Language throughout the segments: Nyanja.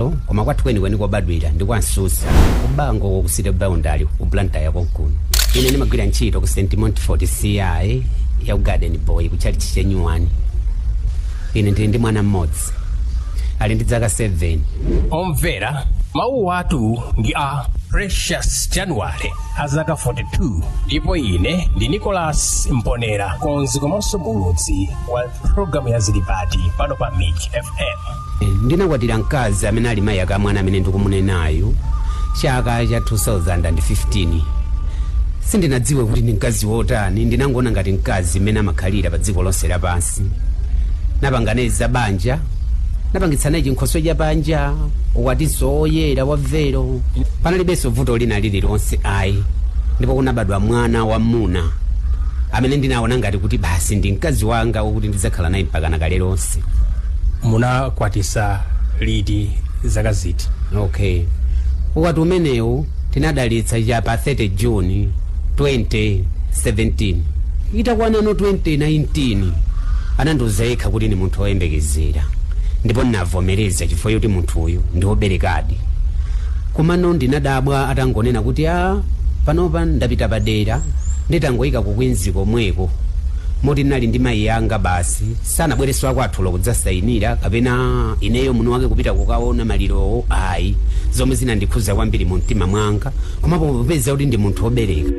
Lo, koma kwathu kwenikweni kobadwira ndi kwa nsusa kubango ko ku city boundary ku blantyre konkuno ine ndimagwira ntchito ku st montfort ci yau garden boy ku chalichi chenyuwani ine ndili ndi mwana mmodzi ali ndi zaka 7 omvera mawu athu ndi a precious january azaka 42 ndipo ine ndi nicholas mponera mkonzi komanso muulutsi wa programu ya zilipati pano pa mix fm Ndinakwatira mkazi amene ali mayi ake a mwana amene ndikumunenayu chaka cha 2015. Sindinadziwe kuti ndi mkazi wotani, ndinangoona ngati mkazi mmene amakhalira padziko lonse lapansi. Napangana za banja, napangitsa naye chinkhoswe cha banja, ukwatinso woyera wa velo. Panalibenso vuto lina lililonse ayi, ndipo kunabadwa mwana wamuna amene ndinaona ngati kuti basi ndi mkazi wanga wokuti ndidzakhala naye mpakana kale lonse. munakwatisa liti zaka ziti okay ukwati umenewu tinadalitsa cha pa 30 june 2017 itakwanano 2019 anandiuza yekha kuti ndi munthu woyembekezera ndipo ndinavomereza chifukwa choti munthu uyu ndi woberekadi komano ndinadabwa atangonena kuti a panopa ndapita padera nditangoyika kukwinzi komweko moti ndinali ndi mayi anga basi Sanabwerese akwathu olo kudzasainira kapena ineyo mwini wake kupita kukaona malirowo ayi, zomwe zinandikhudza kwambiri mu mtima mwanga komapo popeza kuti ndi munthu obereka,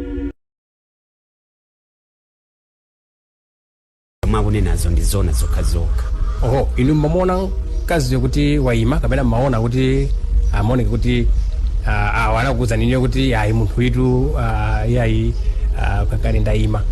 zomwe akunenazo ndi zoona zokhazokha. Oho, inu mmamuona mkaziyo kuti waima kapena mmaona kuti amaoneka kuti ah, awa anakuwuzani inuyo kuti ayi munthu uyitu ah, iyayi ah, kaya kale ndaima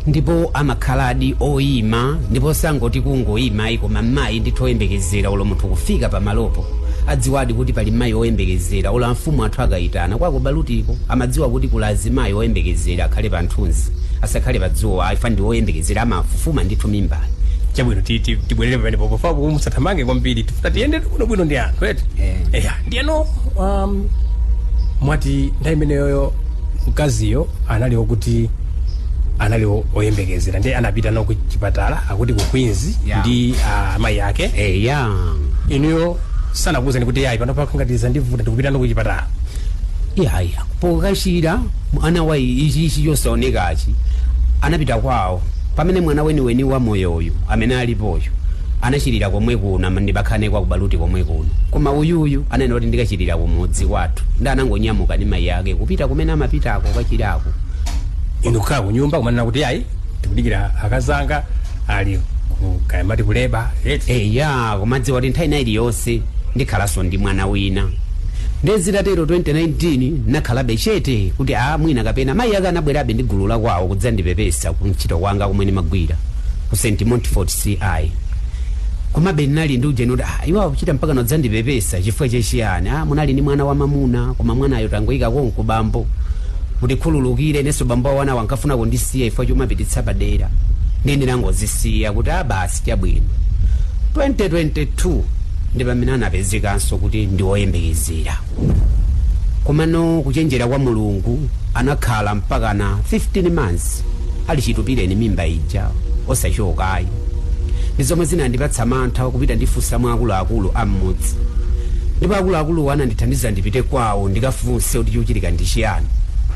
ndipo amakhaladi oyima ndipo sangoti kungoyima ayi koma mayi ndithu oyembekezera olo munthu kufika pamalopo adziwadi kuti pali mayi oyembekezera olo amfumu athu akayitana kwa kubalutiko amadziwa kuti kuli azimayi oyembekezera akhale pa nthunzi asakhale pa dzuwa ayi chifa ndi oyembekezera amafufuma ndithu mimbayi chabwino ti- ti- tibwerere pamenepo pofuna kuti musathamange kwambiri tifuna tiyendere bwinobwino ndi anthu eti Eh. eya ndiyeno um, mwati nthawi imeneyoyo mkaziyo anali okuti anali o- oyembekezera ndi anapita nawo ku chipatala akuti ku queens Yeah. ndi ah, amayi ake Eh, ya inuyo sanakuuzani kuti yayi panopa kangati zandivuta ndikupita nawo ku chipatala yaya pokachira mwana wa ichi ichi chosaonekachi anapita kwawo pamene mwana weniweni wa moyo uyu amene alipoyo anachirira komwe kuno ama- ndimakhala kwa kubaluti komwe kuno koma uyuyu ananena kuti ndikachirira kumudzi kwathu ndi anangonyamuka ndi mayi ake kupita kumene amapitako kukachirako inu kukhala ku nyumba kumanena kuti ayi tikudikira akazanga alikaya mmati kuleba eti eya kumadziwa kuti nthawi ina iliyonse ndikhalanso ndi mwana wina nde zitatero 2019 nakhalabe chete kuti a mwina kapena mayi ake anabwerabe ndi gulu lakwawo kudzandipepesa ku ntchito kwanga komwe ndimagwira ku st montfort ci komabe ndinali ndi ujeni kuti ah, iwowo kuchita mpaka kudzandipepesa chifukwa chachiyani ah, munali ndi mwana wamamuna koma mwanayo tangoyika konko bambo Mutikhululukire inenso bambo a anawo ankafuna kundisiya chifukwa chomapititsa padera ndiye ndinangozisiya kuti a basi chabwino. 2022 ndi pamene anapezekanso kuti ndi woyembekezera. Komano kuchenjera kwa Mulungu anakhala mpakana 15 months ali chitupireni mimba ija osachoka ayi. ndi zomwe zinandipatsa mantha kupita ndikafunsa mwa akuluakulu a mmudzi ndipo akuluakuluwo anandithandiza ndipite kwawo ndikafunse kuti chikuchitika ndi chiyani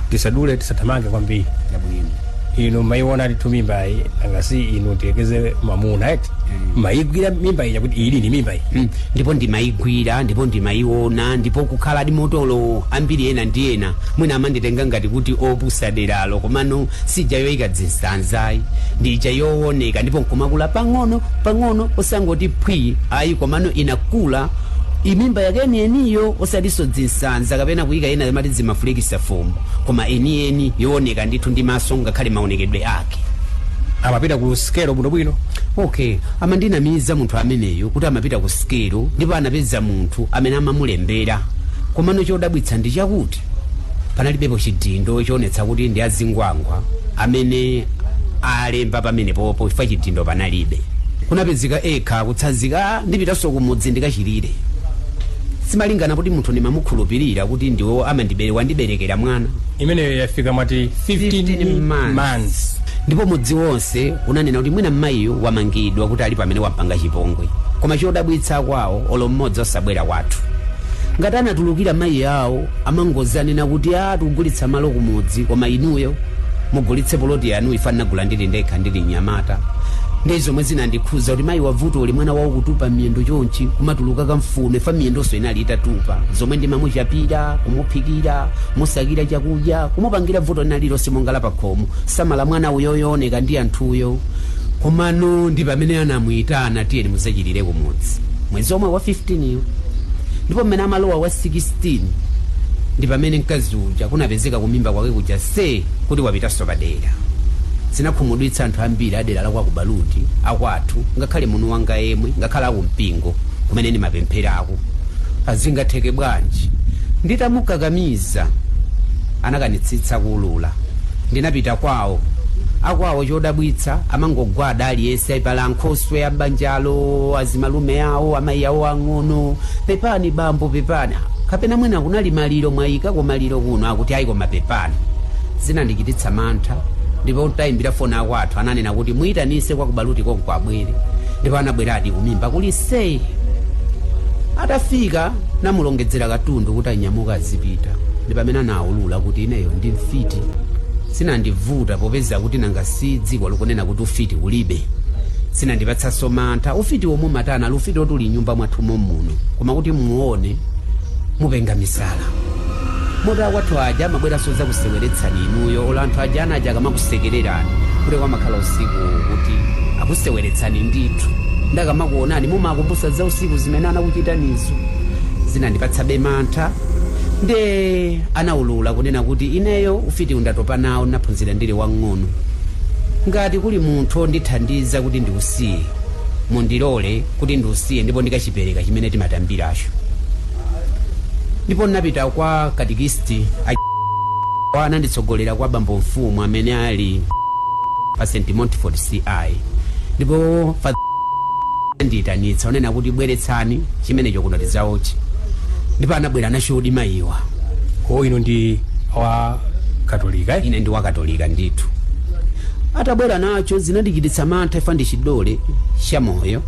tisadule tisathamange kwambiri yabwino inu maiona alitu mimba iyi nanga si inu tiyekeze mamuna eti maigwira mimba ija kuti ili ni mimba iyi Mm, ndipo ndimayigwira ndipo ndimayiona ndipo kukhala ndi matolo ambiri ena ndi ena mwina amanditenga ngati kuti opusa deralo komano Si ija yoika dzinsanza ayi, ndi ija yooneka ndipo nkumakula pang'ono pang'ono, osangoti phwii ayi, komano inakula i- mimba yake yeniyeniyo, osatinso dzinsanza kapena kuika ena amati dzimafulikisa fumbo, koma yeniyeni yooneka ndithu ndi maso ngakhale maonekedwe ake. amapita ku sikelo bwinobwino okay amandinamiza munthu ameneyo kuti amapita ku sikelo ndipo anapeza munthu amene amamulembera komano chodabwitsa ndi chakuti panalibepo chidindo choonetsa kuti ndi azingwangwa amene alemba pamenepopo chifukwa chidindo panalibe kunapezeka ekha kutsanzika ndipitanso kumudzi ndikachirire simalingana kuti munthu ndimamukhulupirira kuti ndiwo amandibere wandiberekera mwana imeneyo yafika mwati 15 months. months ndipo mudzi wonse unanena kuti mwina mmayiyo wamangidwa kuti ali amene wampanga chipongwe koma chodabwitsa kwawo olo mmodzi osabwera kwathu Ngati anatulukira mayi awo amangodzanena kuti aa tikugulitsa malo kumudzi koma inuyo mugulitse poloti yanu ifa ndinagula ndili ndekha ndili mnyamata ndiye zomwe zinandikhuza kuti mayiwa vuto uli mwana wawo kutupa miyendo chonchi kumatuluka kamfuno ifa miyendonso inali itatupa zomwe ndimamuchapira kumuphikira kumusakira chakudya kumupangira vuto lina lililonse monga lapakhomo samala mwana uyoyo wooneka ndi anthuyo komano ndi pamene anamuyitana tiyeni mudzachirire kumudzi mwezi omwe wa 15 yo ndipo mmene amalowa wa 16 ndi pamene mkazi uja kunapezeka kumimba kwake kuja se kuti wapitanso padera zinakhumudwitsa anthu ambiri adera la kwathu ku Baluti akwathu ngakhale munthu wanga yemwe ngakhale akumpingo kumene ndimapempherako azingatheke bwanji nditamukakamiza anakanitsitsa kuulula Ndinapita kwawo. Akwawo chodabwitsa amangogwada aliyense aipala ankhoswe a m'banjalo, azimalume awo, amayi awo ang'ono. Pepani bambo, pepani. Ah, Kapena mwina kunali maliro mwayika kwa maliro kuno akuti ayi koma pepani. Zinandichititsa mantha ndipo nditayimbira foni akwathu ananena kuti muyitanitse kwa kubaluti konko abwere. Ndipo anabweradi kumimba kuli sei. Atafika ndinamulongedzera katundu kuti anyamuka azipita. Ndi pamene ana ulula kuti ineyo ndi mfiti sizinandivute popeza kuti nanga si dziko likunena kuti ufiti ulibe sizinandipatsenso mantha ufiti womwe umatani ali ufiti woti uli nyumba mwathu momuno koma kuti muone mupenga misala moti akwathu aja amabweranso zakuseweretsani inuyo olo anthu aja ana aja akamakusekererani kuti kumakhala usiku kuti akuseweretsani ndithu nde akamakuonani mumakumbutsa za usiku zimene anakuchitanizo zinandipatsabe mantha Nde anaulula kunena kuti ineyo ufitiwu ndatopa nawo ndinaphunzira ndili wang'ono. Ngati kuli munthu ondithandiza kuti ndiusiye, mundilole kuti ndiusiye ndipo ndikachipereka chimene timatambiracho. Ndipo ndinapita kwa katikisiti ananditsogolera kwa bambo mfumu amene ali pa St Montfort CI ndipo fa anandiyitanitsa kunena kuti bweretsani chimenecho kuno tidzaotche ndipo anabwera nachodi mayiwa ko inu ndi wa katolika eh? ine ndi wakatolika ndithu atabwera nacho zinandichititsa mantha chifukwa ndi chidole cha moyo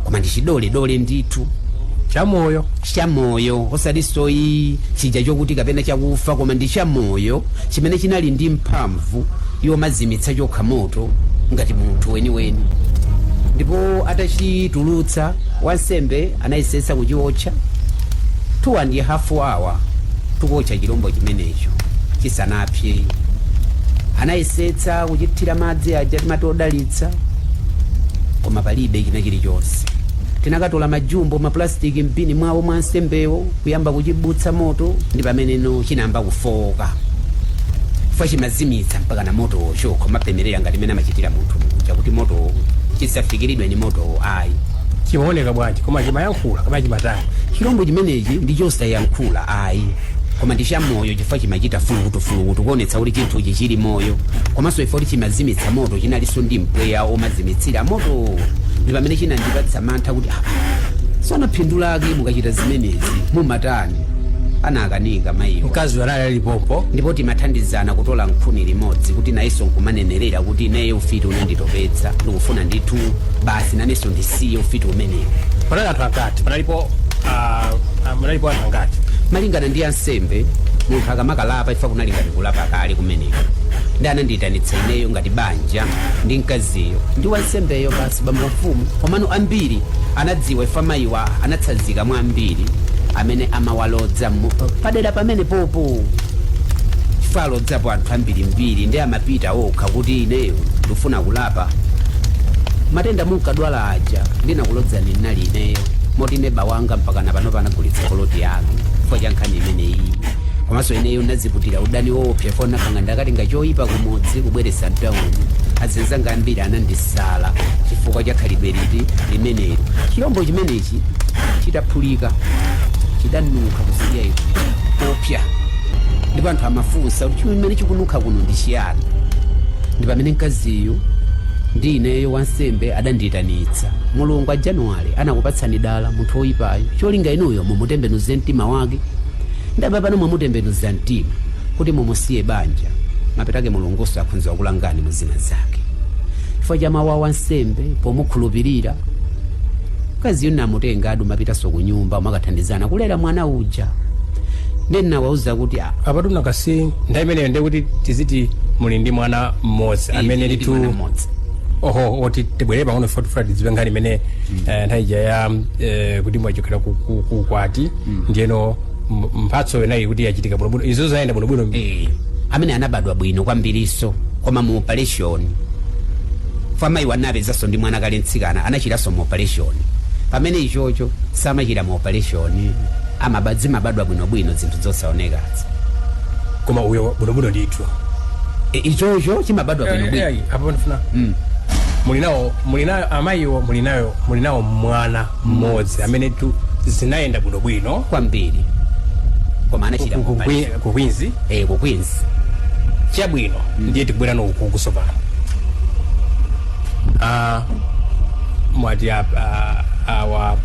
koma ndi chidole dole ndithu chamoyo osati toyi chija chokuti kapena chakufa koma ndi cha moyo chimene chinali ndi mphamvu mphamvu yomazimitsa chokha moto ngati munthu weniweni ndipo atachitulutsa wansembe anayesetsa kuchiotcha two and a half hours tikuotcha chilombo chimenecho chisanapse anayesetsa kuchithira madzi aja timati odalitsa koma palibe china chilichonse tinakatola majumbo mapulastiki m'bini mwawo mwa wansembewo kuyamba kuchibutsa moto ndi pameneno chinayamba kufooka chifukwa chimazimitsa mpaka na motowo chokha kumapemerera ngati mmene amachitira munthu muja kuti motowo chisafikiridwe ni motowo ayi chimaoneka bwanji koma chimayankhula koma chimatani chilombo chimenechi ndi chosayankhula ayi koma ndi chamoyo chifukwa chimachita fulukutufulukutu kuonetsa kuti chinthuchi chili moyo komanso poti chimazimitsa moto chinalinso ndi mpweya omazimitsira motowo ndi pamene chinandipatsa mantha kuti "Ah, sona phindu lake mukachita zimenezi mumatani anakanika mayiwa mkazi anali alipopo ndipo timathandizana kutola nkhuni limodzi kuti nayenso nkumanenerera kuti ine ufiti unanditopetsa ndikufuna ndithu basi nanenso ndisiye ufiti umenewo panali anthu angati panalipo ah, ah, munalipo anthu angati malingana ndi ansembe munthu akamakalapa chifukwa kunali ngati kulapa kale kumeneko ndi anandiyitanitsa ineyo ngati banja ndi mkaziyo ndi wansembeyo basi si bambo mfumu komano ambiri anadziwa chifukwa mayiwa anatsanzika mwa ambiri amene amawalodza mu- pa- padera pamene popo chifukwa alodzapo anthu ambirimbiri ndi amapita okha kuti ineyo ndifuna kulapa matenda munkadwala aja ndinakulodzani ndinali ineyo moti neba wanga mpaka napano anagulitsa poloti yanu chifukwa cha nkhani imeneyi komanso ineyo ndadziputira udani woopsa chifukwa anzanga ndakatenga choyipa kumudzi kubweretsa mtawuni anzanga ambiri anandisala chifukwa cha khalidwe liti limenelo chilombo chimenechi chitaphulika chidanunkha kusiya iku kopya ndipo anthu amafunsa kuti chimene chikununkha kuno ndi chiyani ndi pamene mkaziyu ndi ineyo wansembe adandiyitanitsa mulungu a Januwale anakupatsani dala munthu woyipayo cholinga inuyo mumutembenuze mtima wake nde apa pano mwamutembenuza mtima kuti mumusiye banja mapeto ake mulungunso akhonza kukulangani mu zina zake chifukwa cha mawu a wansembe pomukhulupirira mkaziyu munamutenga ndithu mupitanso ku nyumba muzikathandizana kulera mwana uja ndiye ndinawauza kuti "Ah, apatu nakasi nthawi imeneyo ndiye kuti tiziti muli ndi mwana mmodzi amene tili ndi litu mwana mmodzi." oho oti tibwerere pang'ono futi futi tidziwe nkhani imene eh, nthawi ija ya eh, kuti mwachokera ku- ku- ku ukwati ndiyeno M- mphatso yomwayi kuti yachitika bwinobwino izo zayenda bwinobwino Eh, amene anabadwa bwino kwambirinso koma mu operation chifukwa mayiwa ndinawapezanso ndi mwana kale mtsikana anachiranso mu operation pamene ichocho samachira mu operation amaba zimabadwa bwinobwino zinthu zosaonekazi koma uyo bwinobwino ndithu e, ichocho chimabadwa bwinobwino apo ndifuna Mm. muli nawo muli nayo amayiwo muli nayo muli nawo mwana mmodzi ameneyutu zinayenda bwinobwino kwambiri koma anachira ku- ku- mopanda. ku- ku Queens eh ku Queens chabwino ndiye tikubwerano uku tsopano Ah, mwati ap- ah, awa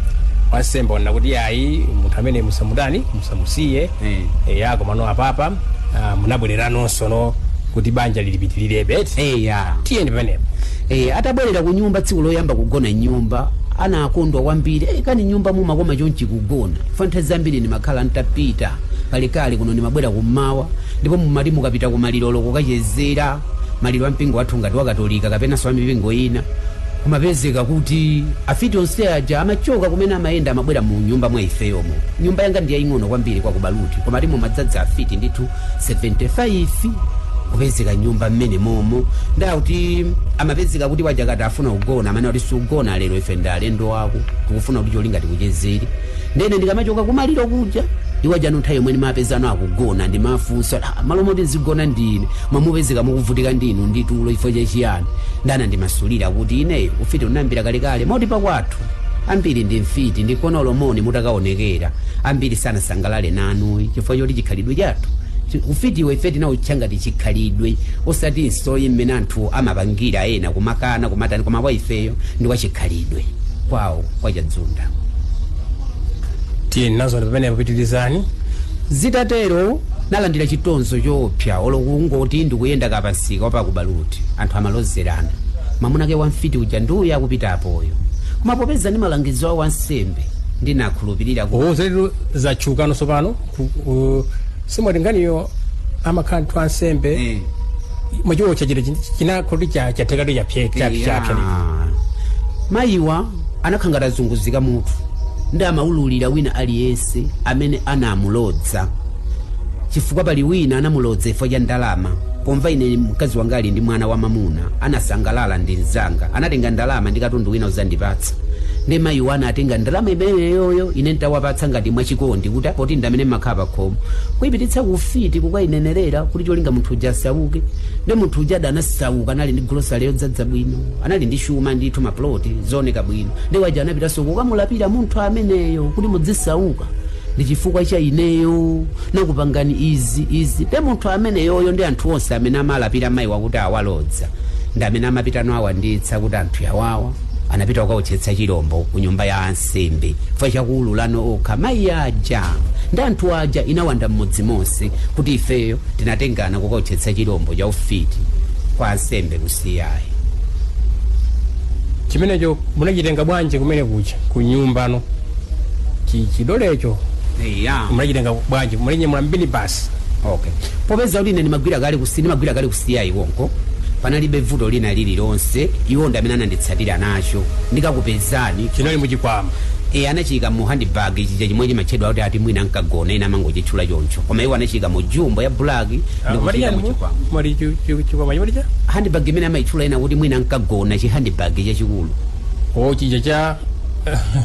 wansembe wanena kuti ayi munthu ameneyu musamutani musamusiye Eh. eya komano apapa ah, munabwererananso tsono kuti banja lilipitirire beti eh ya tiyeni pamenepo E, atabwerera ku nyumba tsiku loyamba kugona mnyumba anakondwa kwambiri e, kani nyumba mumakoma chonchi kugona chifukwa nthawi zambiri ndimakhala ntapita kalekale kuno ndimabwera kummawa ndipo mumati mukapita ku malirolo kukachezera maliro a mpingo wathu ngati wakatolika kapenanso a mipingo ina kumapezeka kuti afiti onse aja amachoka kumene amayenda amabwera mu nyumba mwa ifeyomo nyumba yanga ndi yaying'ono kwambiri kwa Kubaluti koma timomadzadza afiti ndithu 75 kupezeka mnyumba mmene momo nde kuti amapezeka kuti awaja akati afuna kugona amanena kuti sugona lero ife ndi alendo ako tikufuna kuti cholinga tikuchezere nde ine ndikamachoka kumaliro kuja iwajano nthawi yomwe ndimawapezano akugona ndimafunsa "Ah, mmalo moti ndizigona ndine mumapezeka mukuvutika ndinu ndi tulo chifukwa cha chiyani nde anandimasulira kuti ineyo ufiti ndinayambira kalekale moti pakwathu ambiri ndi mfiti nde kuno olo mmene mutakaonekera ambiri sangasangalale nanu chifukwa choti chikhalidwe chathu chi- ufitiwo ife tinautcha ngati chikhalidwe osati nsoyi mmene anthu amapangira ena kumakana kumatani koma kwa ifeyo ndi kwa chikhalidwe kwawo kwa chadzunda tiyeni nazo pamene pitirizani zitatero ndinalandira chitonzo choopsa olo kungoti ndikuyenda kapa msika wapa Kubaluti anthu amalozerana mamuna wake wamfiti uja ndi uyo akupita apoyo koma popeza ndi malangizo awo ansembe ndinakhulupirira ku owo zalero zachoka tsopano ku- ku- simwati nkhaniyo amakhala anthu ansembe Eh. muchiwo chachitachi nakhoti chathekatu chapse chapse chapse Ah. mayiwa anakhala ngati azunguzika mutu nde amaululira wina aliyense amene anamulodza chifukwa pali wina anamulodza chifukwa cha ndalama Pomva ine mkazi wanga ali ndi mwana wamamuna anasangalala ndi mzanga anatenga ndalama ndi katundu wina kudzandipatsa nde mayiwa anatenga ndalama imeneyoyo ine ntawapatsa ngati mwachikondi kuti poti ndi amene amakhala pakhomo kuyipititsa ku ufiti kukayinenerera kuti cholinga munthu uja asauke nde munthu uja ada anasauka anali ndi grosale yodzadza bwino anali ndi chuma ndithu maploti ooneka bwino nde awaja anapitanso kukamulapira munthu ameneyo kuti mudzisauka ndi chifukwa cha ineyo ndinakupangani izi izi nde munthu ameneyoyo ndi anthu onse amene amalapira mayiwa kuti awalodza ndi amene amapitano kuwanditsa kuti anthu awawa anapita kukaotchetsa chilombo ku nyumba ya ansembe chifukwa chakuululano okha mayi aja nde nkhani ija inawanda mmudzi monse kuti ifeyo tinatengana kukaotchetsa chilombo cha ufiti kwa ansembe kusiya ayi chimenecho munachitenga bwanji kumene kucha ku nyumbano chi- chidolecho eya munachitenga bwanji mulinyamula mbini basi okay popeza kuti ine ndimagwira kale kusi ndimagwira kale kusiya iko konko panalibe vuto lina lililonse iwo ndi amene ananditsatira nacho ndikakupezani chinali muchikwama e anachiyika mu handbag chija chimwe chimatchedwa kuti ati mwina nkagona ena amangochitchula choncho koma iwo anachiyika mu jumbo ya black ndikuchiyika mu chikwama mali chikwama chimalicha handbag imene amayitchula ena kuti mwina nkagona chi handbag chachikulu o chija cha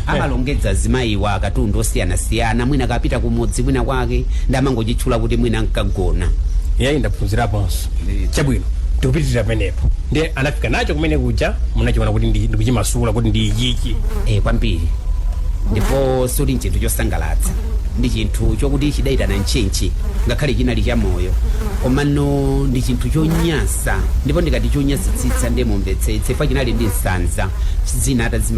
amalongedza azimayiwa akatundu osiyanasiyana mwina akapita kumudzi mwina kwake ndi amangochitchula kuti mwina nkagona yayi ndaphunziraponso chabwino tikupitirira penepo ndiye anafika nacho kumene kuja munachiona kuti ndi- ndikuchimasula kuti ndi ichichi e, kwambiri ndipo sichili nchinthu chosangalatsa ndi chinthu chokuti chidayitana ntchentche ngakhale chinali cha moyo komano ndi chinthu chonyansa ndipo ndikati chonyansitsitsa ndiye mumvetsetse pa chinali ndi nsanza zina atazima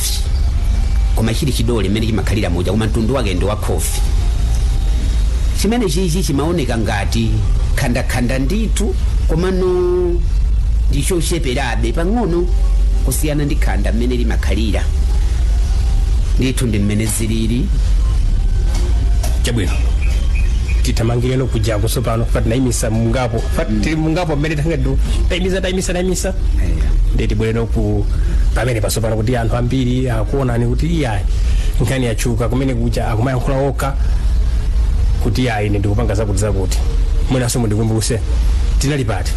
khofi koma chili chidole mmene chimakhalira muja koma mtundu wake ndi wa khofi chimene chichi chimaoneka ngati khandakhanda ndithu komano ndichocheperabe pang'ono kusiyana ndi khanda mmene limakhalira ndithu ndi mmene zilili chabwino titamangireno kuja tsopano fati naimisa mungapo fati tili mungapo mmene tangadu taimisa taimisa taimisa ndeti bwereni ku pamene pa tsopano kuti anthu ambiri akuonani kuti iyayi nkhani yatchuka kumene kuja akumayankhula okha kuti iyayi ine ndikupanga zakuti zakuti mwinanso mundikumbuse tinali pati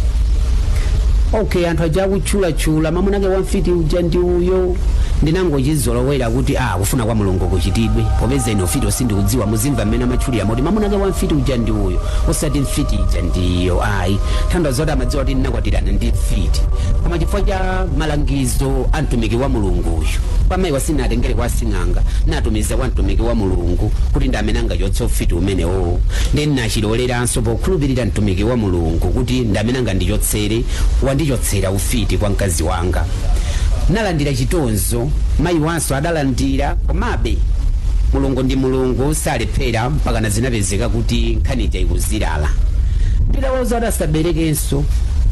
okay anthu aja akutchulatchula mamuna ake wa mfiti uja ndi uyo ndinangochizolowera kuti a kufuna kwa mulungu kuchitidwe popeza ine ufiti sindikudziwa muzimva mmene amatchulira moti mamuna ake wa mfiti uja ndi uyo osati mfiti ija ndi iyo ayi kutanthauza zoti amadziwa kuti ndinakwatirana ndi mfiti koma chifukwa cha malangizo so a mtumiki wa mulungu uyu kwa mayiwa sinatengere kwa sing'anga natumiza kwa mtumiki wa mulungu kuti ndi amene angachotse ufiti umenewo ndiye nachiloleranso pokhulupirira mtumiki wa mulungu kuti ndi amene angandichotsere wandichotsera ufiti kwa mkazi wanga nalandira chitonzo mayiwanso adalandira komabe mulungu ndi mulungu salephera mpakana zinapezeka kuti nkhani ija ikuzilala ndidawauza asaberekenso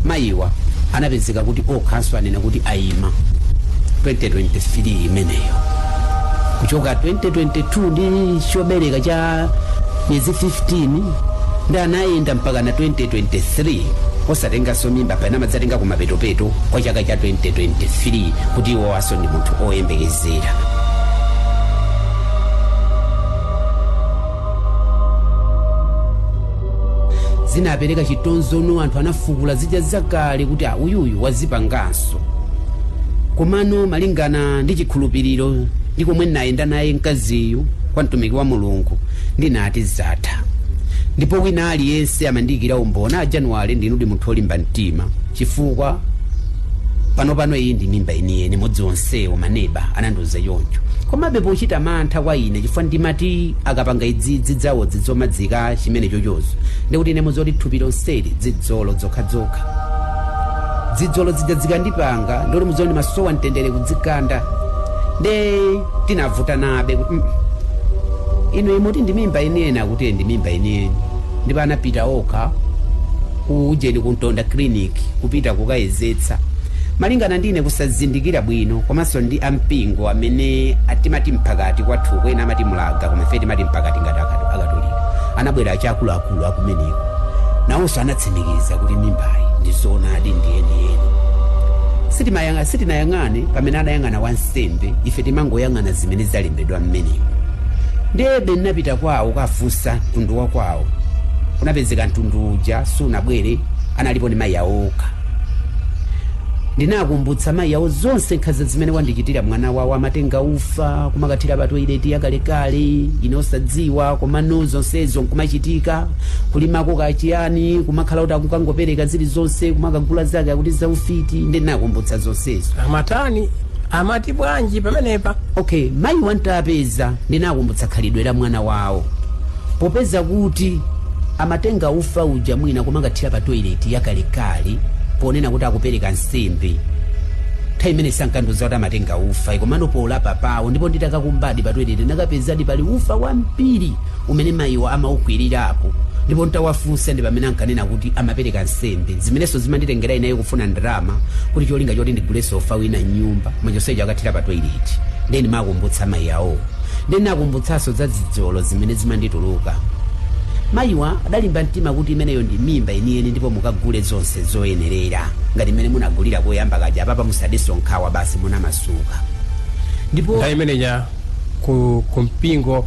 mayiwa anapezeka kuti okhanso anena kuti ayima 2023 imeneyo kuchoka 2022 ndi chobereka cha miyezi 15 ndiye anayenda mpakana 2023 osatenganso mimba pena amadzatenga kumapetopeto kwa chaka cha 2023 kuti iwowanso ndi munthu oyembekezera zinapereka chitonzono anthu anafukula zija zakale kuti a uyuyu wazipanganso komano malingana ndi chikhulupiriro ndi komwe ndinayenda naye mkaziyu kwa mtumiki wa mulungu ndinati zatha ndipo wina aliyense amandiyikira umboni a januwale ndinudi munthu olimba mtima chifukwa panopano iyi ndi mimba yeniyeni mudzi onsewo maneba anandiuza choncho komabe pochita mantha kwa ine chifukwa ndimati akapanga idzi dzidzawo dzidzomadzika chimene chochozo ndikuti ine muzoti thupi lonseli dzidzolo dzokhadzokha dzidzolo dzija dzikandipanga ndikuti muzoti ndimasowa mtendere kudzikanda nde tinavutanabe kuti mm, inu mumati ndi mimba yeniyeni akuti ndi mimba yeniyeni ndipo anapita okha ku ujeni ku ntonda clinic kupita kukayezetsa malingana ndi ine kusazindikira bwino komanso ndi ampingo amene timati mphakati kwathu kwina amati mulaga koma ife timati mphakati ngati akatu- akatolika anabwera achi akuluakulu akumeneko nawonso anatsimikiza kuti mimbayi ndi zoonadi ndi yeniyeni sitimayang'a sitinayang'ane pamene anayang'ana wansembe ife timangoyang'ana zimene zalembedwa mmenemo ndebe ndinapita kwawo kafunsa mtundu wa kwawo kunapezeka mtundu uja sunabwere analipo ni mayi awo okha ndinakumbutsa mayi awo zonse nkhanza zimene wandichitira mwana wawo amatenga ufa kumakathira pa toileti yakalekale ine osadziwa komano zonsezo nkumachitika kulimako kachiyani kumakhala kuti akukangopereka zilizonse kumakagula zake akuti zaufiti ndinakumbutsa zonsezo amatani amati bwanji pamenepa okay mayiwa ntapeza ndinakumbutsa khalidwe la mwana wawo popeza kuti amatenga ufa uja mwina kumakathira pa toileti yakalekale ponena kuti akupereka nsembe nthawi imene sankandiuza kuti amatenga ufa komano polapa pawo ndipo nditakakumbadi pa toileti ndakapezadi pali ufa wambiri umene mayiwo amaukwirirapo ndipo ntawafunsa ndi pamene ankanena kuti amapereka nsembe zimenenso zimanditengera ineyo kufuna ndalama kuti cholinga choti ndigulenso ufa wina mnyumba koma chonsecho akathira pa toilet ndiye ndimakumbutsa mayi awowo ndiye ndinakumbutsanso za zidzolo zimene zimandituluka mayiwa adalimba mtima kuti imeneyo ndi mimba yeniyeni ndipo mukagule zonse zoyenerera ngati mmene munagulira koyamba kaja apapa musadenso nkhawa basi munamasuka ndipo nthawi imeneja ku, ku mpingo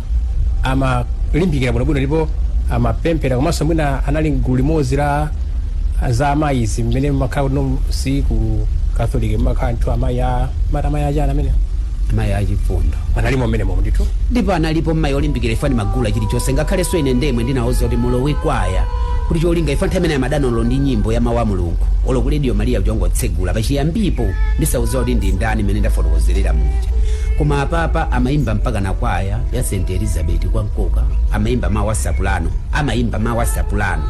amalimbikira bwinobwino ndipo amapemphera komanso mwina anali mgulu limodzi la azimayi zimene makhala kuti no si ku catholic makhala ndithu amayi a mata amayi achana amene mayi achifundo analimo mmenemo ndithu ndipo analipo mmayi olimbikira even ndimagula chilichonse ngakhalenso ine ndemwe ndinawuza kuti mulowe kwaya kuti cholinga even nthawi imene amadana olo ndi nyimbo ya mawu a mulungu olo ku radio maria chongotsegula pachiyambipo ndisawuza kuti ndi ndani limene ndafotokozerera muja koma apapa amayimba mpaka na kwaya ya st elizabeth kwa mkoka amayimba mawu asapulano amayimba mawu asapulano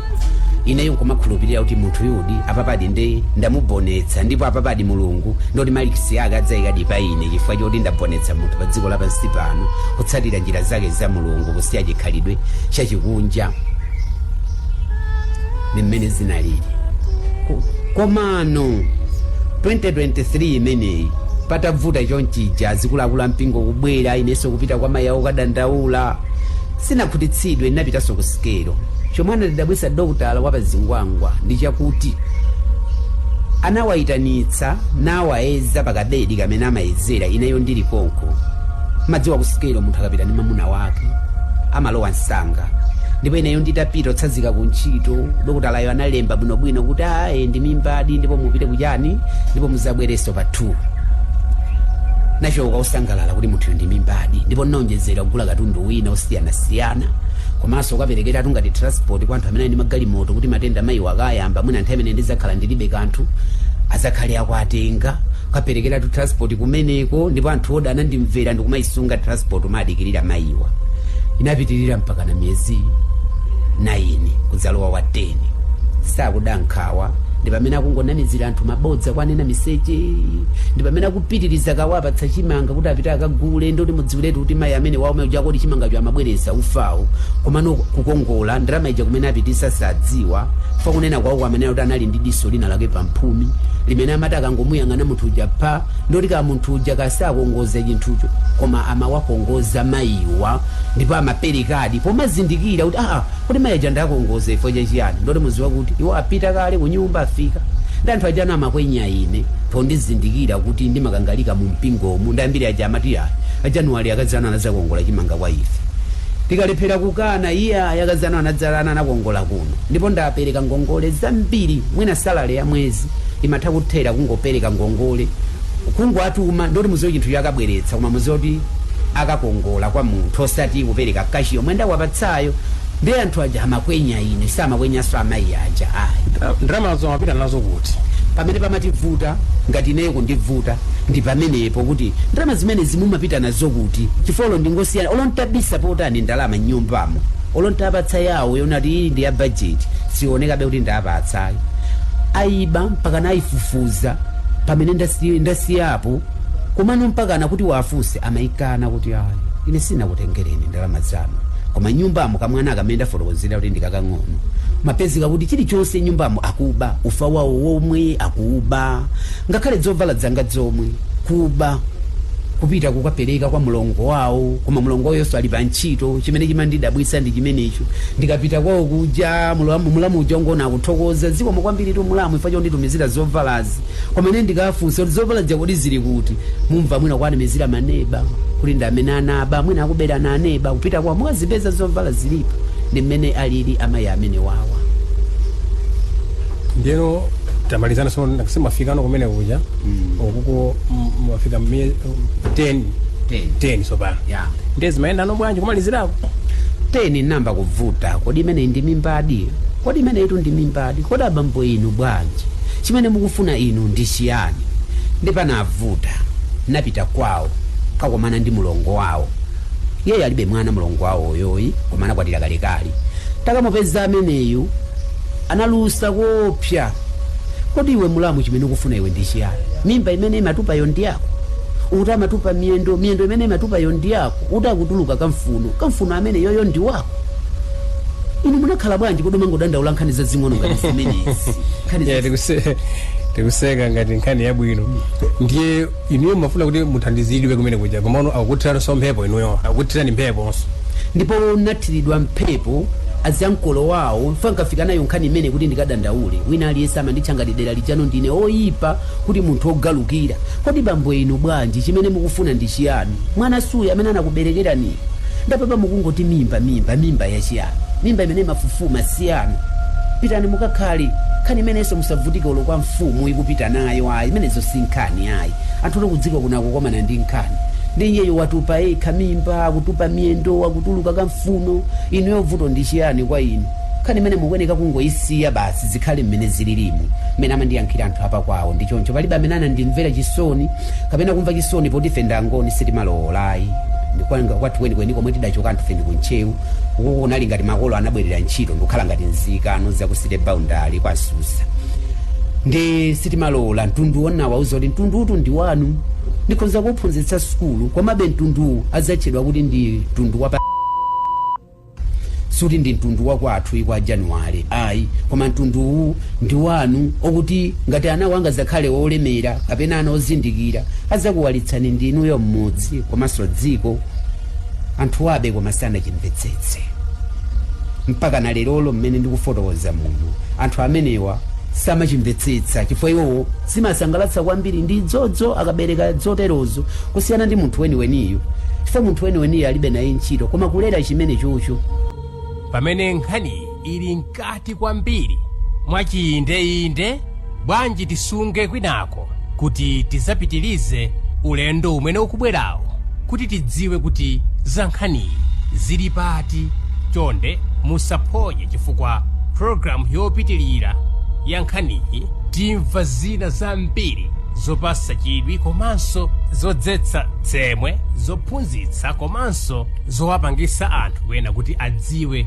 ineyo nkumakhulupirira kuti munthuyudi apapadi nde ndamubonetsa ndipo apapadi mulungu nditi malikisi ake adzayikadi pa ine chifukwa choti ndabonetsa munthu pa dziko lapansi pano kutsatira njira zake za mulungu kusiya chikhalidwe chachikunja ndi mmene zinalili Ko- komano 2023 imeneyi patavuta chonchija zikulakula mpingo kubwera inenso kupita kwa mayi awo kukadandaula sinakhutitsidwe ndinapitanso ku sikelo chomwe anandidabwitsa dokotala wa pazingwangwa ndi chakuti anawayitanitsa nawayeza pakabedi kamene amayezera ineyo ndili konko madziwa ku sikelo munthu akapita ndi mamuna wake amalowa msanga ndipo ineyo nditapita kutsazika ku ntchito dokotalayo analemba bwinobwino kuti ayi ndi mimbadi ndipo mupite kuchani ndipo muzabwerenso pa 2 nachoka osangalala kuti munthuyo ndi mimbadi ndipo ndinaonjezera kugula katundu wina osiyanasiyana komanso nkaperekera tungati transport kwa anthu amene ali ndi magalimoto kuti matenda mayiwo akayamba mwina nthawi imene ndizakhala ndilibe kanthu azakhale akuwatenga nkaperekera tu transport kumeneko ndipo anthu odala anandimvera ndikumayisunga transport kumadikirira mayi iwa inapitirira mpaka na miyezi 9 kudzalowa wa 10 sakuda nkhawa ndi pamene akungonamizira anthu mabodza kuwanena miseche ndi pamene akupitiriza kuwapatsa chimanga kuti apite akagule nditi mudziwiretu kuti mayi amenewawo mayi chakoti chimangacho amabweresa ufawo komano kukongola ndalama ija kumene apitiriza osadziwa pa kunena kwawo kwameneyo kuti anali ndi diso lina lake pamphumi limene amati akangomuyang'ana munthu uja pa nditi kaya munthu uja kaya sakongoza chinthucho koma amawakongoza mayiwa ndipo amaperekadi pomazindikira kuti aa kuti mayi aja ndakongoza chifo cha chiyani nditi muziwe kuti iwo apita kale kunyumba afika ndi anthu aja amakwenya ine pondizindikira kuti ndimakangalika mu mpingomu ndi ambiri aja amati ayi Januwale yakadzana anazakongola chimanga kwa ife tikalephera kukana iye yakadzana anadzalana anakongola kuno ndipo ndapereka ngongole zambiri mwina salale ya mwezi imatha kuthera kungopereka ngongole kungowatuma nditi muziwe chinthu akabweretsa koma muziwe kuti akakongola kwa munthu osati kupereka kashi yomwe ndawapatsayo ndi anthu aja amakwenya ine samakwenyanso amayi aja ayi Ndra- ndalamazo amapita nazo kuti pamene pamandivuta ngati ineyo kundivuta ndi pamenepo kuti ndalama zimenezi mumapita nazo kuti chifukwa ndingosiyana olo ntabisa motani ndalama nyumbamo olo ntawapatsa yawo yoti iyi ndi ya bajeti sionekabe kuti ndapatsa tsayo aiba mpaka nayifufuza pamene ndasi- ndasiyapo komano mpaka nakuti wafunse amayi akana kuti ayi ine sindinakutengereni ndalama zanu koma nyumbamo kamwana kamene ndafotokozera kuti ndikakang'ono mumapezeka kuti chilichonse nyumbamo akuba ufa wawo womwe akuba ngakhale zovala zanga zomwe kuba kupita kukapereka kwa mlongo wawo koma mlongo wawonso ali pa ntchito chimene chimandidabwitsa ndi chimenecho ndikapita kwawo kuja mulamu uja ungoona akuthokoza zikomo kwambiritu mulamu chifukwa chonditumizira zovala koma ine ndikafunsa kuti zovala zija kodi zili kuti mumva mwina kuwanamizira maneba kuti ndi amene anaba mwina akuberana aneba kupita kwawo mukazipeza zovala zilipo ndi mmene alili amayi amenewawa ndiyeno tamalizana so simwafikano kumene kuja ukuko mafika 10 tsopano eya ndiye zimayendano bwanji kumalizirako 10 nayamba kuvuta kodi imeneyi ndi mimbadi kodi imeneyitu ndi mimbadi kodi abambo inu bwanji chimene mukufuna inu ndi chiyani ndiye panavuta napita kwawo kakomana ndi mulongo wawo iyeyo alibe mwana mulongo wawoyoyi koma anakwatira kalekale takamupeza ameneyu analusa koopsa Kodi iwe mulamu chimene ukufuna iwe ndi chiyani? Mimba imene imatupayo ndi yako? Ukuti amatupa miyendo, miyendo imene imatupayo ndi yako? Ukuti akutuluka kamfuno, kamfuno ameneyoyo ndi wako? Inu munakhala bwanji kodi mumangodandaula nkhani zazing'ono ngati zimenezi? Tikuseka ngati nkhani yabwino ndiye Inuyo mumafuna kuti muthandizidwe kumene kuja komano akukuthiraninso mphepo inuyo akukuthirani mpheponso. Ndipo ndinathiridwa mphepo azi ankolo wawo chifukwa nkafika nayo nkhani imeneyi kuti ndikadandaule wina aliyense amanditcha ngati dera lijano ndine woyipa kuti munthu wogalukira kodi bambo inu bwanji chimene mukufuna ndi chiyani mwana suuyu amene anakuberekeraniyu ndiye apapa mukungoti mimba mimba mimba ya chiyani mimba imene imafufuma siyanu pitani mukakhale nkhani imenenso musavutike olo kwa mfumu kupita nayo ayi imeneyo si nkhani nkhani ayi anthu akudziko kuno akukomana ndi nkhani ndiye iyeyo watupa yekha mimba akutupa miyendo akutuluka kamfuno inuyo vuto ndi chiyani kwa inu nkhani imeneyi mukuyenera kungoyisiya basi zikhale mmene zililimu mmene amandiyankhira anthu apa kwawo ndi choncho palibe amene anandimvera chisoni kapena kumva chisoni poti ife nda Angoni sitimalowolayi kwathu kwenikweni komwe tidachoka anthufe ndi ku Ntcheu uku kunali ngati makolo anabwerera ntchito ndikukhala ngati nzika ano za ku city boundary kwa susa ndiye sitimalowola mtundu wonawauza kuti mtunduwutu ndi wanu ndikhonza kuphunzitsa sukulu komabe mtunduwu udzatchedwa kuti ndi mtundu wapa suti ndi mtundu wakwathu kwa Januwale ayi koma mtunduwu ndi wanu okuti ngati anawa angadzakhale olemera kapena ana ozindikira adzakuwalitsani ndi inuyo mmudzi komanso dziko anthu aja koma sanachimvetsetse mpaka na lerolo mmene ndikufotokoza muno anthu amenewa samachimvetsetsa chifukwa iwowo zimasangalatsa kwambiri ndi dzodzo akabereka dzoterozo kusiyana ndi munthu weniweniyo chifukwa munthu weniweniyo alibe naye ntchito koma kulera chimene chocho pamene nkhaniyi ili mkati kwambiri mwachiyindeyinde bwanji tisunge kwinako kuti tizapitilize ulendo umene ukubwerawo kuti tidziwe kuti za nkhaniyi zili pati chonde musaphonye chifukwa programu yopitilira ya nkhaniyi timva zina zambiri zopasa chidwi komanso zodzetsa tsemwe zophunzitsa komanso zowapangisa anthu ena kuti adziwe